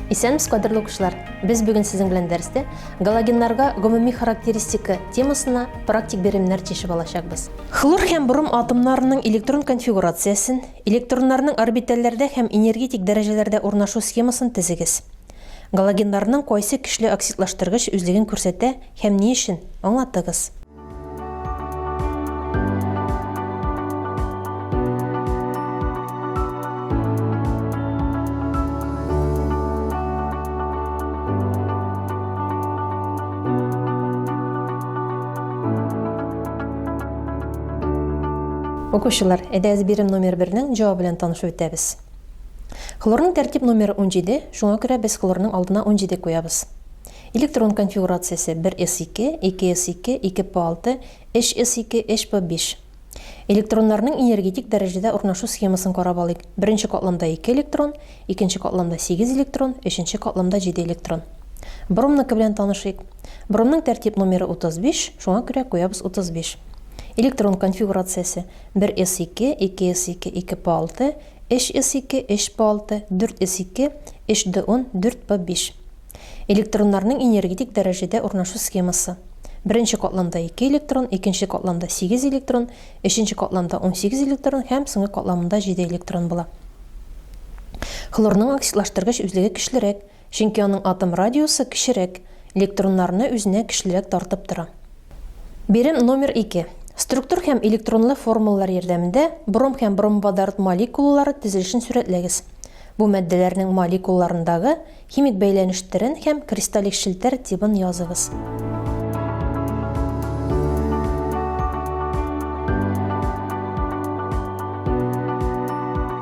Исәнмесез, кадерле укучылар! Без бүген сезнең белән дәрестә галогеннарга гомуми характеристика темасына практик беремнәр чишеп алачакбыз. Хлор һәм бром атомнарының электрон конфигурациясен, электроннарның орбитальләрдә һәм энергетик дәрәҗәләрдә урнашу схемасын тезегез. Галогеннарның кайсы көчле оксидлаштыргыч үзлеген күрсәтә һәм ни өчен? Аңлатыгыз. Укучылар, әйдәгез бирем номер бернең җавабы белән танышып үтәбез. Хлорның тәртип номеры унҗиде, шуңа күрә без хлорның алдына унҗиде куябыз. Электрон конфигурациясе бер с ике, ике с ике, ике п алты, өч с ике, өч п биш. Электроннарның энергетик дәрәҗәдә урнашу схемасын карап алыйк. Беренче катламда ике электрон, икенче катламда сигез электрон, өченче катламда җиде электрон. Бромныкы белән танышыйк. Бромның тәртип номеры утыз биш, шуңа күрә куябыз утыз биш. Электрон конфигурациясе Бер эс ике, ике эс ике, ике по алты, өч эс ике, өч по алты, дүрт эс ике, өч д ун, дүрт по биш. Электроннарның энергетик дәрәҗәдә урнашу схемасы. Беренче катламда ике электрон, икенче катламда сигез электрон, өченче катламда унсигез электрон һәм соңгы катламында җиде электрон була. Хлорның оксидлаштыргыч үзлеге көчлерәк, Чөнки аның атом радиусы кечерәк, электроннарны үзенә көчлерәк тартып тора. Бирем номер ике. Структур һәм электронлы формулалар ярдәмендә бром һәм бромводород молекулалары төзелешен сурәтләгез. Бу матдәләрнең молекулаларындагы химик бәйләнештерен һәм кристаллик челтәр тибын языгыз.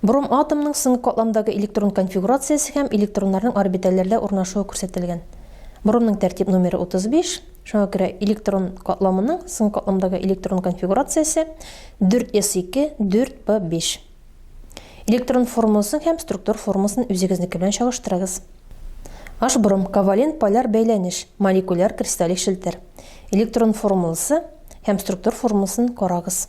Броматомның соңгы катламдагы электрон конфигурациясе һәм электроннарның орбитальләрдә урнашуы күрсәтелгән. Бромның тәртип номеры 35, шуңа күрә электрон катламының соңгы катламдагы электрон конфигурациясе 4s2, 4p5. Электрон формуласын һәм структур формуласын үзегезнеке белән чагыштырыгыз. H бром ковалент поляр бәйләнеш, молекуляр кристаллик челтер. Электрон формуласы һәм структур формуласын карагыз.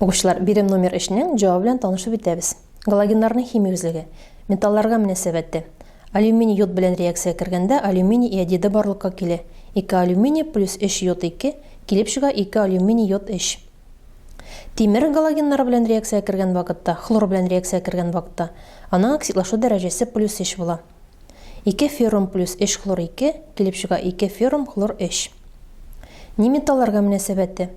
Укучылар, бирем номер 3-нең җавабы белән танышып үтәбез. Галогеннарның химия үзлеге. Металларга мөнәсәбәте. Алюминий йод белән реакция кергәндә алюминий иодиды барлыкка килә. 2 алюминий плюс 3 йод 2, килеп чыга 2 алюминий йод 3. Тимер галогеннары белән реакция кергән вакытта, хлор белән реакция кергән вакытта, аның оксидлашу дәрәҗәсе плюс 3 була. Ике феррум плюс өч хлор ике, килеп чыга ике феррум хлор өч. Ни металларга мөнәсәбәте?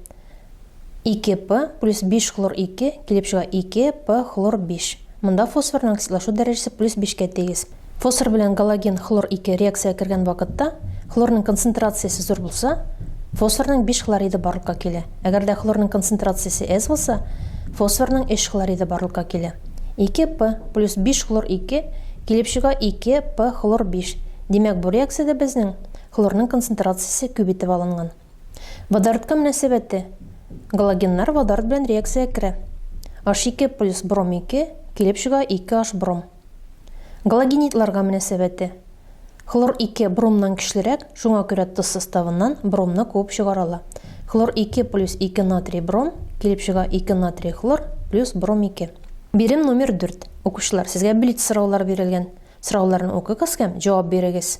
Ике П плюс биш хлор ике, килеп чыга ике П хлор биш. Монда фосфорның оксидлашу дәрәҗәсе плюс бишкә тигез. Фосфор белән галоген хлор ике реакциягә кергән вакытта, хлорның концентрациясе зур булса, фосфорның биш хлориды барлыкка килә. Әгәр дә хлорның концентрациясе әз булса, фосфорның өч хлориды барлыкка килә. Ике П плюс биш хлор ике килеп чыга ике П хлор биш. Димәк, бу реакциядә безнең хлорның концентрациясе күп итеп алынган. Водородка мөнәсәбәте, галогеннар водород белән реакциягә керә. Аш ике плюс бром ике килеп чыга ике Аш бром. Галогенидларга мөнәсәбәте. Хлор ике бромнан көчлерәк, шуңа күрә тоз составыннан бромны куып чыгарала. Хлор ике плюс ике натрий бром, килеп чыга ике натрий хлор плюс бром ике. Бирем номер дүрт. Укучылар, сезгә блиц сораулар бирелгән. Сорауларны укыгыз һәм җавап бирегез.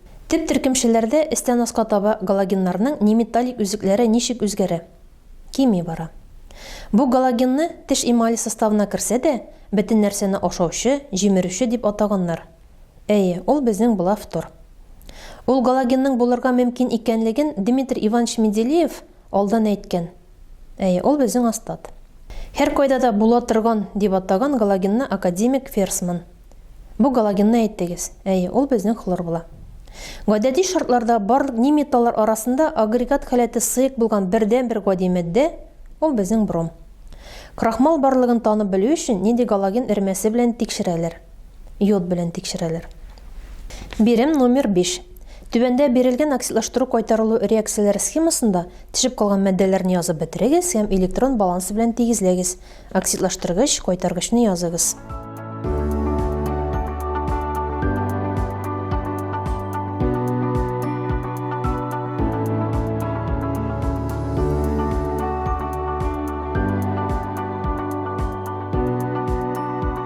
Төп теркәмчеләрдә өстән аска таба галогеннарның неметаллик өзекләре ничек үзгәрә? Кими бара. Бу галогенны теш эмале составына керсә дә, бөтен нәрсәне ашаучы, җимерүче дип атаганнар. Әйе, ул безнең Блафтор. Ул галогенның булырга мөмкин икәнлеген Дмитрий Иванович Менделеев алдан әйткән. Әйе, ул безнең астат. Һәркайда да була торган дип атаган галогенны академик Ферсман. Бу галогенны әйттегез. Әйе, ул безнең хлор була. Гадәти шартларда барлык ни металлар арасында агрегат халәте сыек булган бердәнбер гади матдә, ул безнең бром. Крахмал барлыгын танып белү өчен нинди галоген эремәсе белән тикшерәләр. йод белән тикшерәләр. Бирем номер биш. Түбәндә бирелгән оксидлаштыру-кайтарылу реакцияләре схемасында төшеп калган матдәләрне язып бетерегез һәм электрон балансы белән тигезләгез. Оксидлаштыргыч, кайтаргычны языгыз.